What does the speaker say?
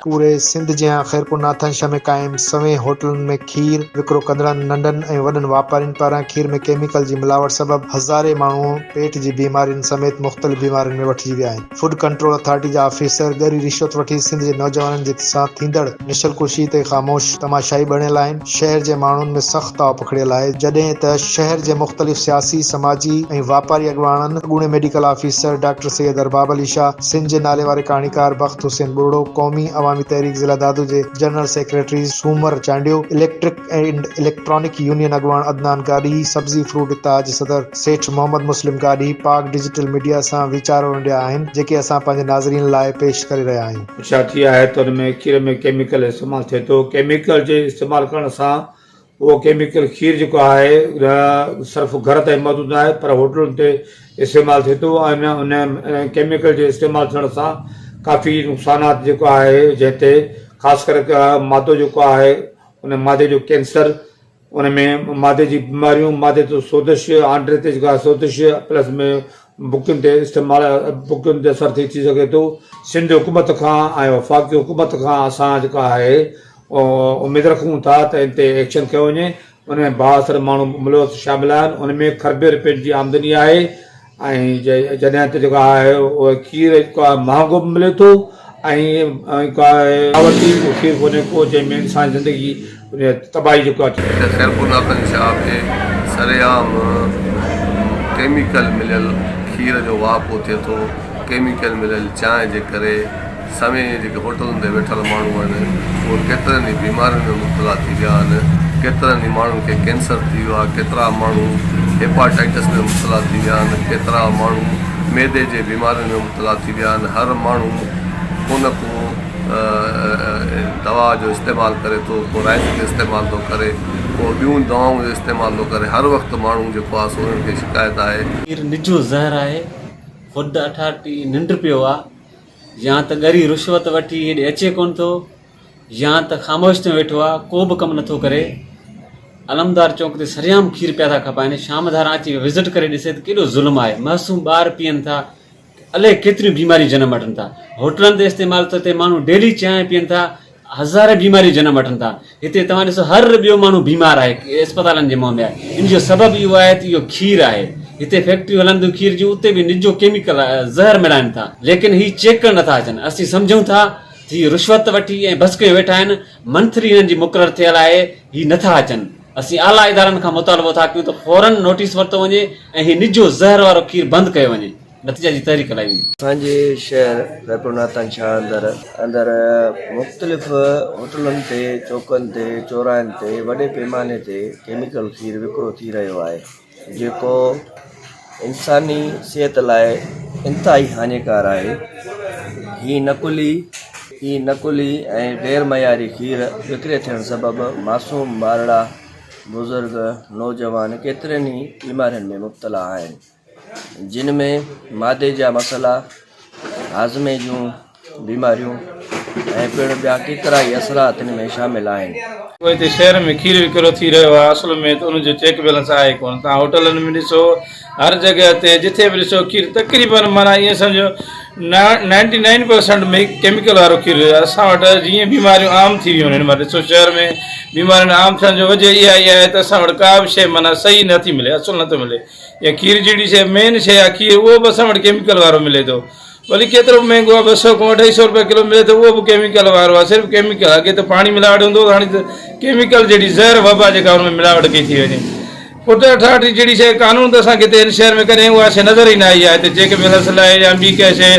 پوري سنڌ جيان خيرپور ناٿانشاهه ۾ قائم سوين هوٽلن ۾ کير وڪرو ڪندڙن ننڍن ۽ وڏن واپارين پاران کير ۾ ڪيميڪل جي ملاوٽ سبب هزارين ماڻهو پيٽ جي بيمارين سميت مختلف بيمارين ۾ وٺجي ويا آهن فوڊ ڪنٽرول اٿارٽي جا آفيسر ڳري رشوت وٺي سنڌ جي نوجوانن جي سان ٿيندڙ نسل ڪشي تي خاموش تماشائي بڻيل آهن. شهر جي ماڻهن ۾ سخت تاء پکڙيل آهي، جڏهن ته شهر جي مختلف سياسي، سماجي ۽ واپاري اڳواڻن، اڳوڻي medical officer doctor Syed Arbab Ali Shah, Sindh جي نالي واري ڪهاڻيڪار بخت حسين ٻرڙو، قومي عوامي تحريڪ ضلع دادو جي general secretary Soomar Chandio, electric and electronic union اڳواڻ عدنان گاڏهي، سبزي فروٽ اتحاد صدر سيٺ محمد مسلم گاڏهي، پاڪ ڊجيٽل ميڊيا سان ويچار ونڊيا آهن، جيڪي اسان پنهنجي ناظرين لاء پيش ڪري رهيا آهيون. ڇا ٿي آهي ته ان ۾ کير ۾ ڪيميڪل استعمال ٿئي ٿو ڪيميڪل جي استعمال ڪرڻ سان اهو ڪيميڪل کير جيڪو آهي نه صرف گهر تائين محدود نه آهي پر هوٽلن تي استعمال ٿئي ٿو ۽ ان ان ڪيميڪل جي استعمال ٿيڻ سان ڪافي نقصانات جيڪو آهي جنهن تي خاص ڪري مادو جيڪو آهي ان مادي جو ڪينسر ان ۾ معدي جي بيماريون، معدي تي سوزش، آنڊري تي جيڪا سوزش پلس ۾ بڪين تي استعمال بڪين تي اثر ٿي ٿي سگهي ٿو. سنڌ حڪومت کان ۽ وفاقي حڪومت کان اسان جيڪا آهي اميد رکون ٿا ته ان تي ايڪشن ڪيو وڃي، ان ۾ بااثر ماڻهو ملوث شامل آهن، ان ۾ کربين رپين جي آمدني آهي، ۽ جڏهن ته جيڪو آهي اهو کير جيڪو آهي مهانگو به ملي ٿو ۽ جيڪو آهي ملاوٽي اهو کير ڪونهي ڪو جنهن ۾ انساني زندگي تباهي جيڪو آهي اچي ٿي. خيرپور لاکن شاهه کي سرعام ڪيميڪل مليل کير جو واهپو ٿئي ٿو، ڪيميڪل مليل چانهه جي ڪري. سوين جيڪي هوٽلن تي ويٺل ماڻهو آهن اهي ڪيترن ئي بيمارين ۾ مبتلا ٿي ويا آهن ڪيترن ئي ماڻهن کي ڪينسر ٿي ويو آهي ڪيترا ماڻهو هيپاٽائٽس ۾ مبتلا ٿي ويا آهن ڪيترا ماڻهو معدي جي بيمارين ۾ مبتلا ٿي ويا آهن هر ماڻهو ڪو نه ڪو دوا جو استعمال ڪري ٿو ڪو رائت جو استعمال ٿو ڪري ڪو ٻيون دوائن جو استعمال ٿو ڪري هر وقت ماڻهو جيڪو آهي سو انهن کي شڪايت آهي. پير نجو زهر آهي خود اٺاٽي ننڊ پيو آ. يا ته ڳري رشوت وٺي هيڏي اچي ڪونه ٿو يا ته خاموش ٿيو ويٺو آهي ڪو به ڪم نٿو ڪري علمدار چونڪ تي سريام کير پيا ٿا کپائن شام ڌاران اچي وزٽ ڪري ڏسي ته ڪيڏو ظلم آهي معصوم ٻار پيئن ٿا الائي ڪيتريون بيماريون جنم وٺن ٿا هوٽلن تي استعمال ٿو ٿئي ماڻهو ڊيلي چانهه پيئن ٿا هزارين بيماريون جنم وٺن ٿا هتي توهان ڏسو هر ٻيو ماڻهو بيمار آهي اسپتالن جي منهن ۾ آهي ان جو سبب اهو آهي ته اهو کير آهي هتي فيڪٽريون هلن ٿيون کير جون اتي به نجو ڪيميڪل زهر ملائن ٿا ليڪن هي چيڪ ڪرڻ نٿا اچن اسين سمجهون ٿا ته هي رشوت وٺي ۽ بس ڪيو ويٺا آهن منٿلي هنن جي مقرر ٿيل آهي هي نٿا اچن اسين اعليٰ ادارن کان مطالبو ٿا ڪيون ته فورن نوٽيس ورتو وڃي ۽ هي نجو زهر وارو کير بند ڪيو وڃي. نتيجا جي تحريڪ لاء ويندي. اسان جي شهر خيرپور ناتان شاهه اندر اندر مختلف هوٽلن تي چوڪن تي چوراهن تي وڏي پيماني تي ڪيميڪل کير وڪرو ٿي رهيو آهي جيڪو انساني صحت لاء انتهائي هاڃيڪار آهي هي نقلي هي نقلي ۽ غير معياري کير وڪري ٿيڻ سبب معصوم ٻارڙا بزرگ نوجوان ڪيترين ئي بيمارين ۾ مبتلا آهن جن ۾ معدي جا مسئلا، هاضمي جون بيماريون ۽ پڻ ٻيا ڪيترائي اثرات ان ۾ شامل آهن. پوء هتي شهر ۾ کير وڪرو ٿي رهيو آهي اصل ۾ ته ان جو چيڪ بيلنس آهي ئي ڪونه. توهان هوٽلن ۾ ڏسو هر جڳهه تي جٿي به ڏسو کير تقريباً معنيٰ ائين سمجهو نائنٽي نائن پرسنٽ ڪيميڪل وارو کير هجي. اسان وٽ جيئن بيماريون عام ٿي ويون آهن معنيٰ ڏسو شهر ۾ بيمارين عام ٿيڻ جو وجهه اها ئي آهي ته اسان وٽ ڪا به شيء معنيٰ صحيح نه ٿي ملي اصل نه ٿو ملي. يا کير جهڙي شيء مين شيء آهي کير اهو به اسان وٽ ڪيميڪل وارو ملي ٿو ڀلي ڪيترو به مهنگو آهي ٻه سؤ کان اڍائي سؤ روپيا ڪلو ملي ٿو اهو به ڪيميڪل وارو آهي صرف ڪيميڪل آهي اڳي ته پاڻي ملاوٽ هوندو هو هاڻي ته ڪيميڪل جهڙي زهر وبا جيڪا ان ۾ ملاوٽ ڪئي ٿي وڃي پٽ اٺاٺي جهڙي شيء قانون ته اسان کي هتي هن شهر ۾ ڪڏهن اها شيء نظر ئي نه آئي آهي هتي چيڪ بيلنس لاء يا ٻي ڪنهن شيء